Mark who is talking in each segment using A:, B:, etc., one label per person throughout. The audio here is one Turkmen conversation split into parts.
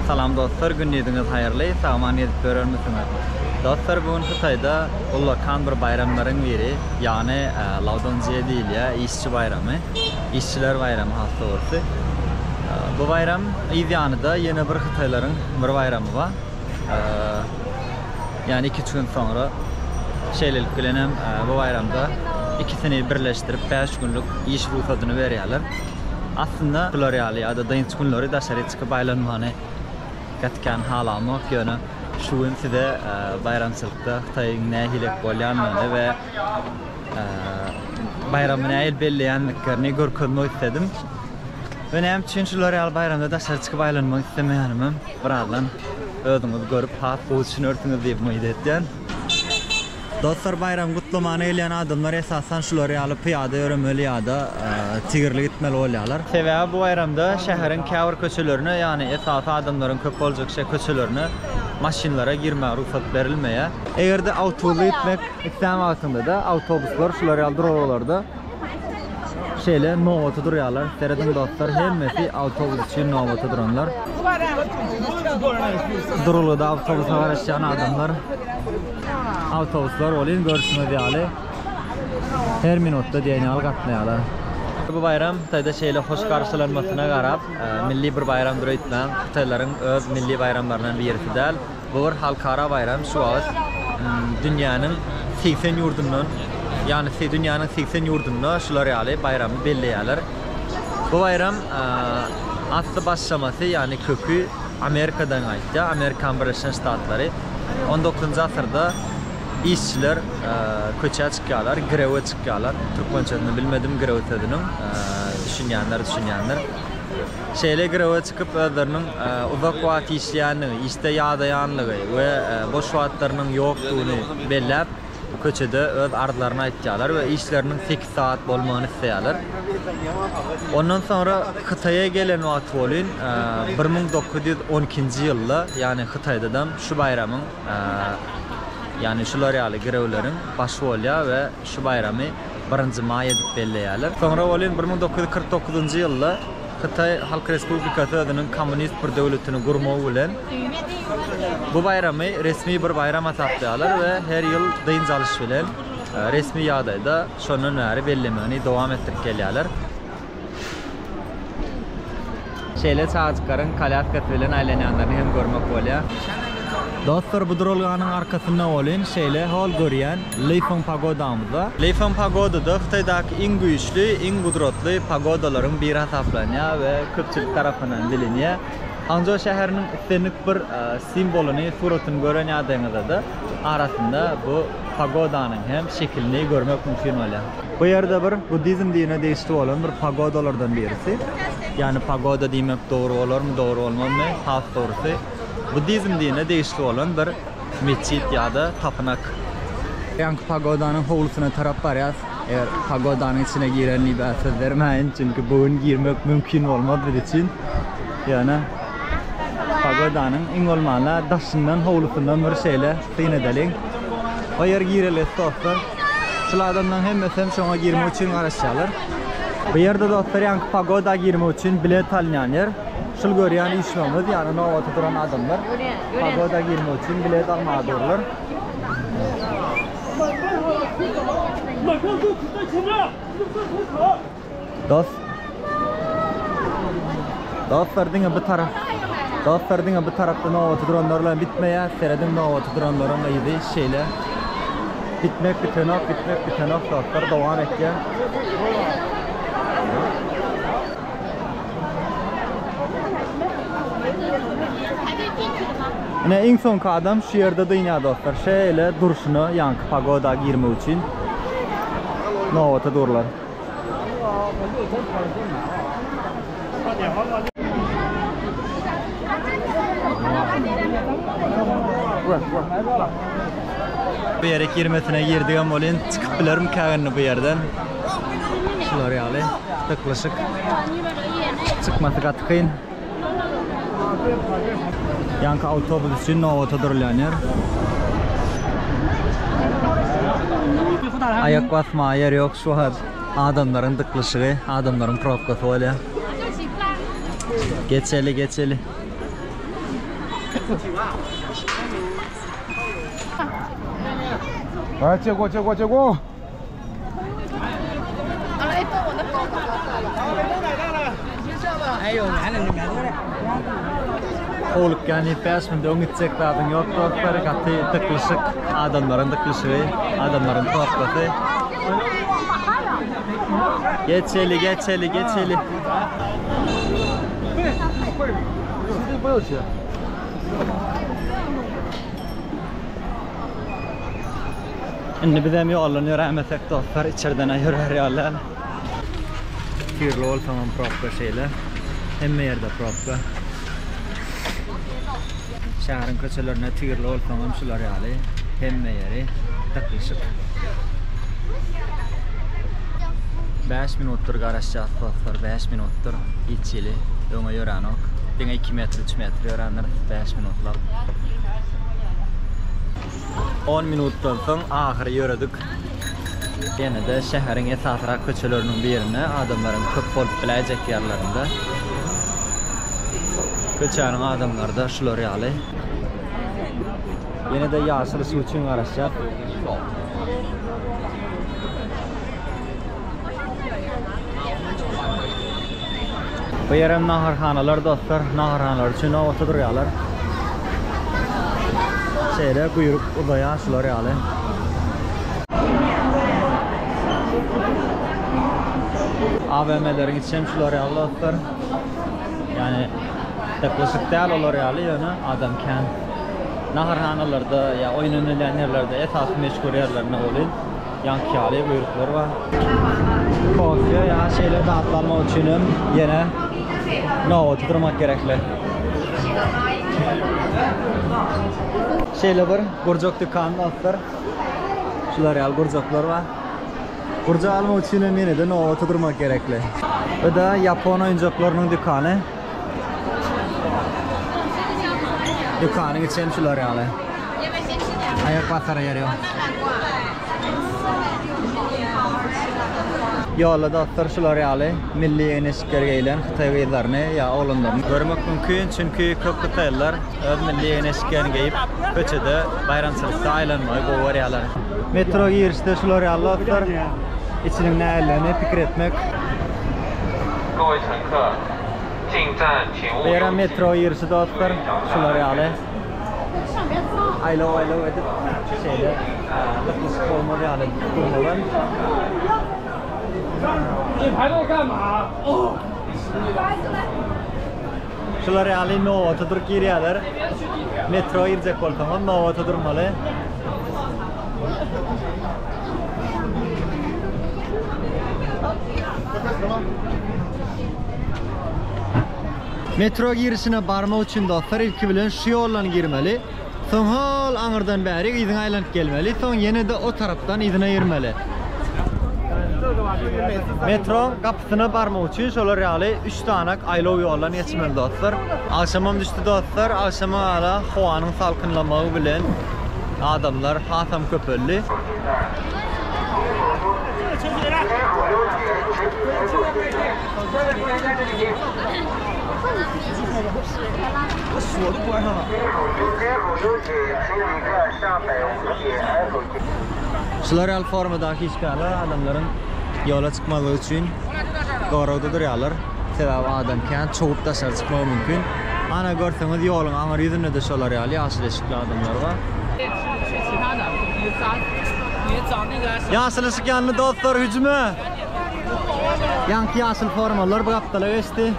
A: Salam dostlar gündiziňiz haýyrly sagaman gezip ýörermisiňiz dostlar bu gün hytaýda ullakan bir baýramlaryň biri ýagny laudonzýe diýilýä işçi baýramy işçiler baýramy has dogrusy bu baýram yz ýanyda ýene bir hytaýlaryň bir baýramy ba ýagny iki üç gün soňra şeýlelik bilenem bu baýramda ikisini birleşdirip bäş günlik iş rugsadyny berýäler Aslynda şular ýaly ýa-da dynç günleri daşary çykyp aýlanmany gaty kän halamok, ýöne şu gün size baýramçylykda Hytaýyň nähilek bolýandygyny we baýramy nähili belleýändiklerini görkezmek isledim. We näme üçin şular ýaly baýramda daşary çykyp aýlanmak islemeýänimem birazdan özüňiz görüp has gowy düşünersiňiz diýip umyt edýän. Dostlar baýramy gutlamana gelýän adamlar esasan şular ýaly pyýada ýöremeli ýa-da tigirli gitmeli bolýarlar. Sebäbi bu baýramda şäheriň käbir köçelerine, ýagny esasy adamlaryň köp boljak şe köçelerine maşynlara girmäge rugsat berilmeýär. Eger-de awtobusda gitmek islän wagtyňda-da awtobuslar şular ýaly duralgalarda Şeýle nobata durýarlar. Serediň dostlar, hemmesi awtobus üçin nobata duranlar. Duralgada awtobusa garaşýan adamlar. Awtobuslar welin görşüňiz ýaly her minutda diýen ýaly gatnaýarlar. Bu baýram Hytaýda şeýle hoş garşylanmasyna garap, milli bir baýramdyr öýtmäň, hytaýlaryň öz milli baýramlaryndan birisi däl. Bu bir halkara baýram, şu wagt dünýäniň segsen ýurdundan, ýagny dünýäniň segsen ýurdunda şular ýaly baýramy belleýärler. Bu baýram asly başlamasy, ýagny köki Amerikadan gaýtýar, Amerikan Birleşen Ştatlary. On dokuzynjy asyrda işçiler köçä çykýarlar, grewe çykýarlar, türkmençesini bilmedim grew sözüniň, düşünýänler düşünýändir. Şeýle girewe çykyp özleriniň uzak wagt işleýändigi, işde ýadaýanlygy we boş wagtlarynyň ýokdugyny belläp, köçede öz arzlaryny aýtýarlar we işleriniň sekiz sagat bolmagyny isleýärler. Ondan soňra Hytaýa gelen wagty bolyn, bir müň dokuz ýüz on ikinji ýylda, ýagny Hytaýdadam şu baýramyň, ýagny şular ýaly girewleriň başy bolýar we şu baýramy, birinji maý edip belleýärler. Soňra welin bir müň dokuz ýüz kyrk dokuzynjy ýylda Hytaý Halk Respublikasy özüniň kommunist bir döwletini gurmagy bilen bu baýramy resmi bir baýram hasaplaýarlar we her ýyl dynç alyş bilen resmi ýagdaýda şondan bäri bellemegini dowam etdirip gelýärler. Şeýle çagajyklaryň kolýaskasy bilen aýlanýanlaryny hem görmek bolýar. Dostlar bu duralganyň arkasynda bolyn şeýle hol görýän Lifeng pagodamyzda. Lifeng pagodada Hytaýdaky iň güýçli, iň gudratly pagodalaryň biri hasaplanýar we köpçülik tarapyndan bilinýär. Hangzhou şäheriniň islendik bir simwolyny, suratyny gören ýagdaýyňyzda-da arasynda bu pagodanyň hem şekilini görmek mümkin bolýar. Bu ýerde bir buddizm dinine degişli bolan bir pagodalardan birisi. Ýagny pagoda diýmek dogry bolarmy, dogry bolmazmy? Has dogrusy, buddizm dinine degişli bolan bir metjit ýa-da tapynak. Ýaňky pagodanyň howlusyna tarap barýas. Eger pagodanyň içine girenlibe söz bermäýin, çünki bu gün girmek mümkin bolmaz biz üçin. Ýöne. Pagodanyň iň bolmanda daşyndan, howlusyndan bir şeýle syn edeliň. O ýer girelgesiz dostlar. Şul adamlaryň hemmesem şoňa girmek üçin garaşýarlar. Bu ýerde dostlar ýaňky pagoda girmek üçin bilet alynýan ýer. Şul görýän üýşmegimiz ýagny nobata duran adamlar pagoda girmek üçin bilet almaga durlar. Dost Dostlar diňe bu tarap Dostlar diňe bu tarapda nobaty duranlar bilen bitmeýär. Serediň nobaty duranlaryň yzy şeýle. Bitmek bitenok, bitmek bitenok dostlar dowam etýär. Ine iň soňky adam şu ýerde dynýar dostlar. Şeýle durşuna ýaňky pagoda girmek üçin nobata durlar. Bu ýere girmesine girdigem welin çykyp bilerimkä indi bu ýerden. Şular ýaly, dyklyşyk. Çykmasy gaty kyn. Ýaňky awtobus üçin nobata durulýan ýer. Aýak basmaga ýer ýok şu wagt. Adamlaryň dyklyşygy, adamlaryň probkasy bolýar. Geçeli, geçeli.
B: Çek, çek, çek, çek, o!
A: Howlukýan diýip bäş minut öň gitjek zadyň ýok dostlar, gaty dyklyşyk, adamlaryň dyklyşygy, adamlaryň sohbaty. Geçeli, geçeli, geçeli. Indi bizem ýoldan ýörämesek dostlar içerden-a ýörer ýaly däl. Tirli bolsaňam probka şeýle. Hemme ýerde probka. Şäheriň köçelerinde tirli bolsaňam şular ýaly hemme ýeri dyklyşyk. Bäş minutdyr garaşýas dostlar, bäş minutdyr hiç hili öňe ýöränok. Diňe iki metr, üç metr ýörändiris bäş minutlap. On minutdan soň ahyry ýöredik. Ýene-de şäheriň esasrak köçeleriniň birine, adamlaryň köp bolup biläýjek ýerlerinde. Köçäniň adamlary-da şular ýaly. Ýene-de ýaşyl suw üçin garaşýar. Bu ýerem naharhanalar dostlar. Naharhanalar üçin nobata durýarlar. Şeýle buýruk uzaýar şular ýaly. AVM-leriň içem şular ýaly dostlar. Ýani dyklyşyk däl olar ýaly ýöne adam kän. Naharhanalarda ýa oýun oýnalýan ýerlerde esasy meşhur ýerlerinde welin. Ýankýaly buýruklar bar. Kofe ýa şeýle zatlar almak üçin hem ýene nobata durmak gerekli. Şeýle bir gurjak dükanyny alypdyr. Şular ýaly gurjaklar bar. Gurjak almak üçin hem ýene-de nobata durmak gerekli. Bu-da ýapon oýunjaklarynyň dükany. Dükanyň içi hem şular ýaly. Aýak basara ýer ýok. Ýolda dostlar şular ýaly milli ýegneşikleri geýlen hytaý gyzlaryny ýa oglanlaryny görmek mümkin, çünki köp hytaýlylar öz milli ýegneşiklerini geýip, köçede baýramçylykda aýlanmagy gowy görýärler. Metro girişde şular ýaly dostlar, içiniň nähilidigini pikir etmek. Goýsaňka, Bu ýere metro girişi dostlar şular ýaly aýlaw aýlaw edip şeýle gytlyşyk bolmaz ýaly gurnalan. Şular ýaly nobata durup girýärler. Metro girjek bolsaňam nobata durmaly. Metro girişine barmak üçin dostlar ilki bilen şu ýoldan girmeli. Soň hol aňyrdan bärik yzyna aýlanyp gelmeli. Soň ýene-de o tarapdan yzyna girmeli. Metroň Syna barmak üçin şolar ýaly üç sanak aýlaw ýoldan geçmeli dostlar. Agşamam düşdi dostlar, agşama hala howanyň salkynlamagy bilen adamlar hasam köpeldi. Şular ýaly formadaky işgärler adamlaryň ýola çykmazlyk üçin goragda durýarlar. Sebäbi adam kän çowup daşary çykmagy mümkin. Ana görseňiz ýoluň aňyr ýüzünde-de şolar ýaly ýaşyl eşikli adamlar bar. Ýaşyl yşyk ýandy dostlar hüjüme! Ýaňky ýaşyl formalylar bu gapdala geçdi.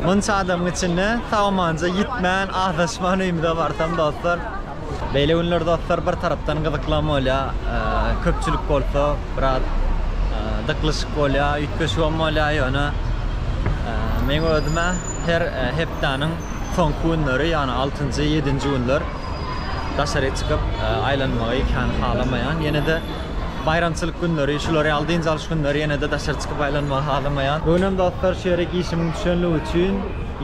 A: Munça adamyň içinde sag-amanja ýitmän, azaşman öýümize barsam dostlar. Beýle günler dostlar bir tarapdan gyzyklam bolýar, köpçülik bolsa biraz dyklyşyk bolýar, üýtgeşigem bolýar ýöne meň özüm-ä her hepdäniň soňky günleri ýagny altynjy, ýedinji günler daşaryk çykyp aýlanmagy kän halamaýan. Ýene-de Baýramçylyk günleri, şular ýaly dynç alyş günleri ýene-de daşary çykyp aýlanmagy halamaýan. Bu günem dostlar şu ýerik işimiň düşenligi üçin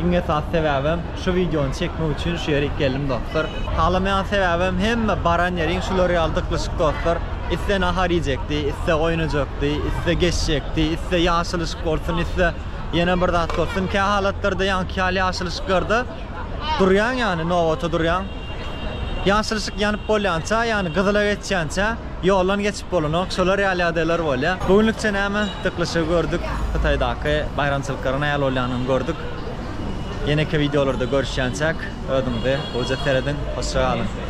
A: iň esasy sebäbem şu wideony çekmek üçin şu ýerik geldim dostlar. Halamaýan sebäbem hemme baran ýeriň şular ýaly dyklyşyk dostlar. Isse nahar iýjekdi, isse goýun öjekdi, isse geçjekdi, isse ýaşyl yşyk bolsun, isse ýene bir zat bolsun. Kähalatlarda ýaňky ýaly ýaşyl yşyklarda durýaň ýany nobata durýaň. Ýaşylyşyk ýanyp bolýança, ýagny gyzyla geçýänçä ýoldan geçip bolanok. Şolar ýaly ýagdaýlar bolýar. Bu günlükçe näme? Dyklyşygy gördük. Hytaýdaky baýramçylyklaryň nähili bolýanyny gördük. Ýeneki wideolarda görüşýänçäk, özüňize gowyja serediň. Hoşça galyň!